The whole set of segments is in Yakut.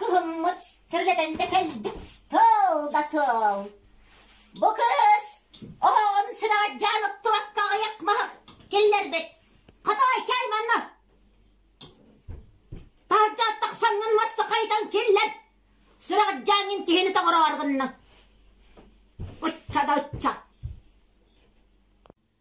Кылыммыт сиргэтэнчэ кэлбит тыл да тыл. Бу кыыс оһоҕун сирэ дьаан оттубакка аҕыйах маһы киллэрбит. Хотой, кээй манна! Таһырдьа тахсаҥҥын маста хайытан киллэр! Сүрэҕит дьааҥҥын киһини тоҕороор гынна. Ычча да ычча!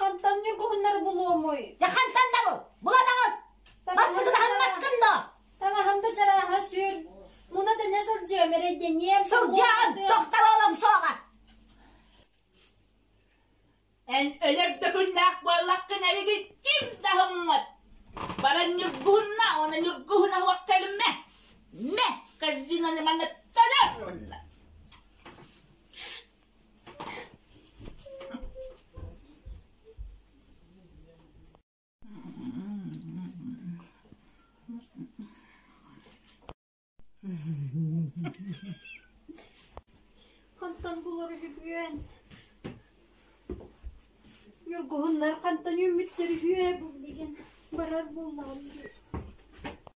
Хантан ньургуһуннар булуомуй? Дьэ хантан дабыл? Буладаҕын! Баспытын аһыммаккын доо? Танаһын да чарааһа сүр. Муна тэнэ сылдьыам эрэйдэниэм. Сылдьаҕын! Тохтор олом суоҕа! Эн өлөр да күннээх буоллаккын эригин ким да һыммат. Баран ньургуһунна, уонна ньургуһун аһуох кэлме. Ме! Казинаны манна танар! Хантан булар үһүгүөн? Ньургуһуннар хантан үүммүттэр үһүө, бу билигин барар булнаҕын дии.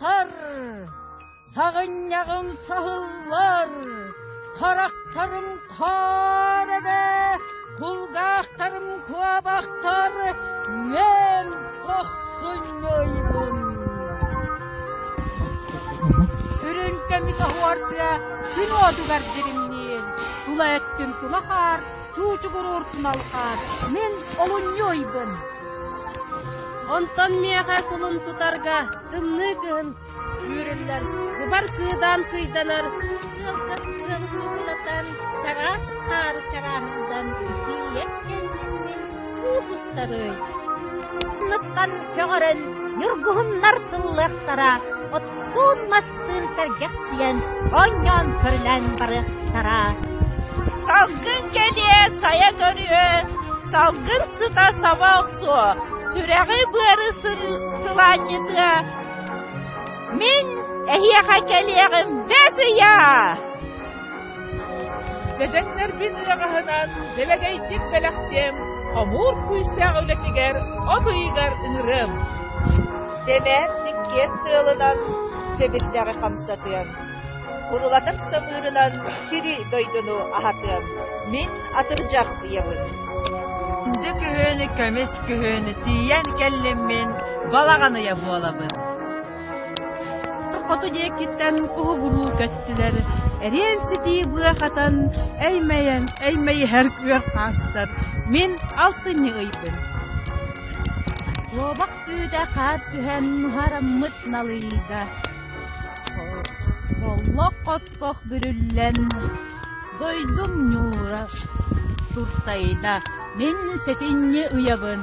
Сар! Саҕынньаҕым саһыллар, харахтарым хаар эбэ, кулгаахтарым куобахтар, мен охсунньойбун. Үрүн кэми соһуорга күн уотугар дьиримниир, тула өттүм тула хаар, чуучугуруур туналхаар, мин олунньуйбун. Онтон миэхэ кулун тутарга тымныы кыһын үүрүллэн, быбар кыыдаан кыйданар ыалгыр ыал субулатан чараас таары чараанылдан тиийэ кэллиммин куус устарыай. Ынныттан көҕөрөн ньургуһуннар тыллыахтара, оттуун мас Тыын сэргэхсийэн, оонньоон көрүлээн барыахтара. Салгын кэлиэ, сайа көрүө, салгын сыта саба охсуо, сүрэҕи-быары сылаанньытыа. Мин эһиэхэ кэлиэҕим, бэс ыйаа! Чэчэктэрбин ыраҕаһынан дэлэгэйдик бэлэхтиэм, хомуур күүстээх үлэтигэр от ыйыгар ыҥырыам. Сэлээн иккиэн тыалынан сэбирдэҕи хамсатыам. Урулатар самыырынан сири дойдуну аһатыам. Мин атырдьах ыйабын. Күндү күһүн, көмүс күһүн, тиийэн кэллиммин балаҕан ыйа буолабын. хоту диэкиттэн куһугулуу көттүлэр, эриэн-ситии быа хатан, эймэйэн, эймэйиһэр күөх хаастар. Мин алтынньы ыйбын. Куобах түүтэ хаар түһэн нуһараммыт налыйда. Холлох хоспох бүрүллэн, дойдум ньуура туртайда. Мин сэтинньи ыйабын.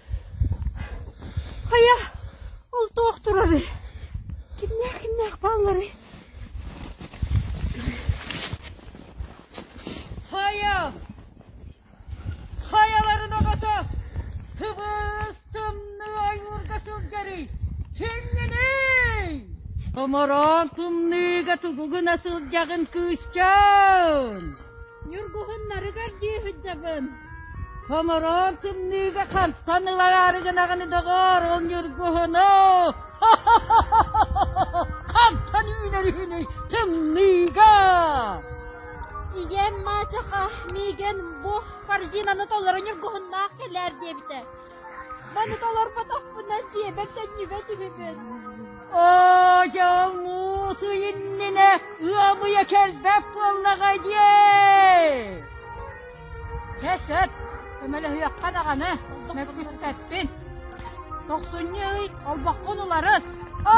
Хайа, ол туох турарый? Кимнээх кимнээх баалларый? Хайа! Хайаларын оҕото! Тыбыс тымныы ойуурга сылдьарый! Кимҥиний? Томороон тымныыга тубугуна сылдьаҕын кыысчаан! Ньургуһуннарыгар дии сылдьабын. Хомороон тымныыга хантан ылараары гынаҕыны доҕоор, ол ньургуһуну! Хантан үүнэрүһүнүй тымныыга? Ийэм маачаха миигин бу корзинаны толору ньургуһуннаах кэлээр диэбитэ. Маны толорботохпуна сиэбэр төннүбэт үһүбүн Оо, дьал муусу иннинэ ыамыйа кэлбэт буоллаҕай дии Чэ, сөп, көмөлөһүөххэ даҕаны мөккүспэппин Тохсунньу ый олбоххун уларыс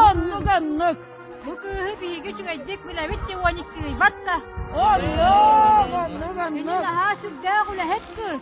Оннук-оннук Бу кыыһы биһиги үчүгэйдик билэбит дии уонньуксуйбат да Оннук, оннук, оннук Ити наһаа сүрдээх үлэһит кыыс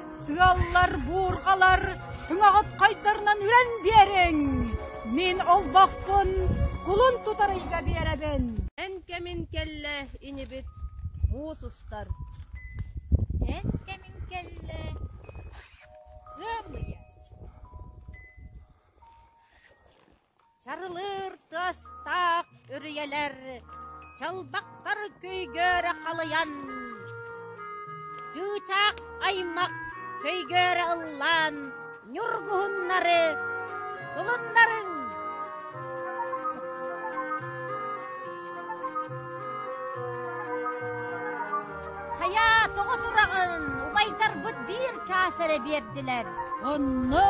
Тыаллар, буурҕалар түҥэҕитхайдарынан үрэн биэриҥ! Мин олбохпун кулун тутарыйга биэрэбин! Эн кэмин кэллэ, инибит муус устар! Эн кэмин кэллэ, ыамыйа! Чарылыыр тыастаах үрүйэлэр чалбахтар көйгөрө халыйан, чыычаах аймах көйгөрө ыллаан ньургуһуннары тулуннарыҥ! Хайа, тоҕо сураҕын убайдарбыт биир чаас эрэ биэрдилэр? Онно!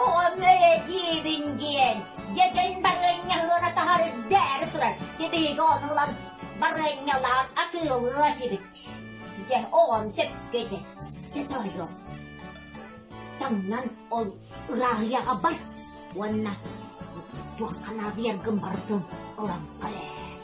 Оҕом өйө диибин диэн, дэтэн барыанньалыыра таһар дэри турар, кэбиһигэ ону ылан барыанньалаан атыылыы этибит. Дьэ, оҕом сөпкө дэ, дэтэ ойуом. Таҥнан ол ырааһыйаҕа бар уонна туохха наадыйаргын барытын ылан кэлээр.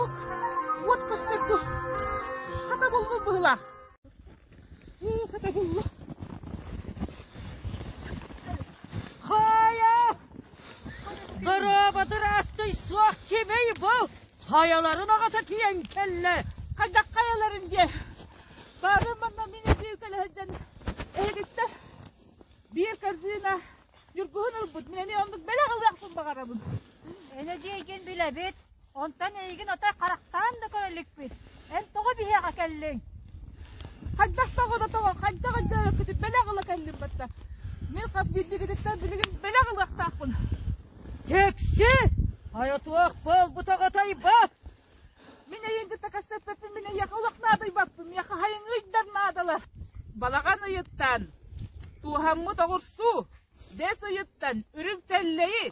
Ол уот көстөргө. Хата булбут быһылаах. Хыы, хата булла. Хая! Гороботур астый суох кебей бол! Хаяларын аҕата киэн кэллэ! Хайдах хайаларын дьэ? Бары манна мини биир көлөһөдден эһигиттэ биир корзина Ньургуһун ылбытын эми оннук бэлэх ылыахпын баҕарабын. Ene дьиэгин билэбит. Онтон эйигин отой харахтаан да көрөллүкпүт. Эн тоҕо биһиэхэ кэллиҥ? Хайдах тоҕо да тоҕо хайдах хайдах бэлэх ыла кэллим батта. Мин хас биирдигититтэн билигин бэлэх ылыахтаахпын. Кэкси! Айатуох болбутаҕа тайба! Мин эйин кытта кассаппаппын мин эйиэхэ олох наадыйбаппын, миэхэ хайыҥ ыйдар наадалар. Балаҕан ыйыттан, туоһаммыт оҕурсуу, дэс ыйыттан, үрүҥ тэллэйи,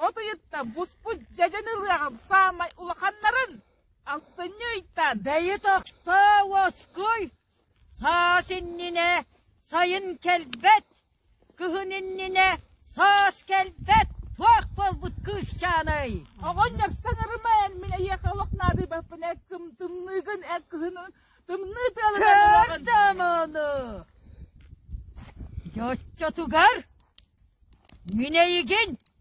от ыйыттан буспут дьэдьэн ылыаҕым саамай улаханнарын алтынньы ыйтан. Бэйи тохто, уоскуй! Саас иннинэ сайын кэлбэт, кыһын иннинэ саас кэлбэт туох буолбут кыысчааный? Оҕон ньапсаҥарыма эн мин эйиэхэ олох наадыйбаппын эн кым тымныыгын эн кыһынын тымныы тыаларыгын Көрдüm onu. Дьоччотугар Минэйигин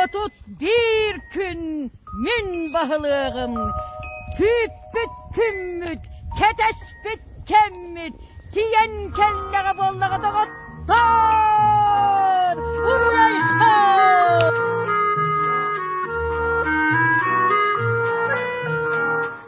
Отут биир күн мин баһылыаҕым күүппүт күммүт, кэтэспит кэммит тиийэн кэллэҕэ буоллаҕа доҕоттоор! Уруйсар!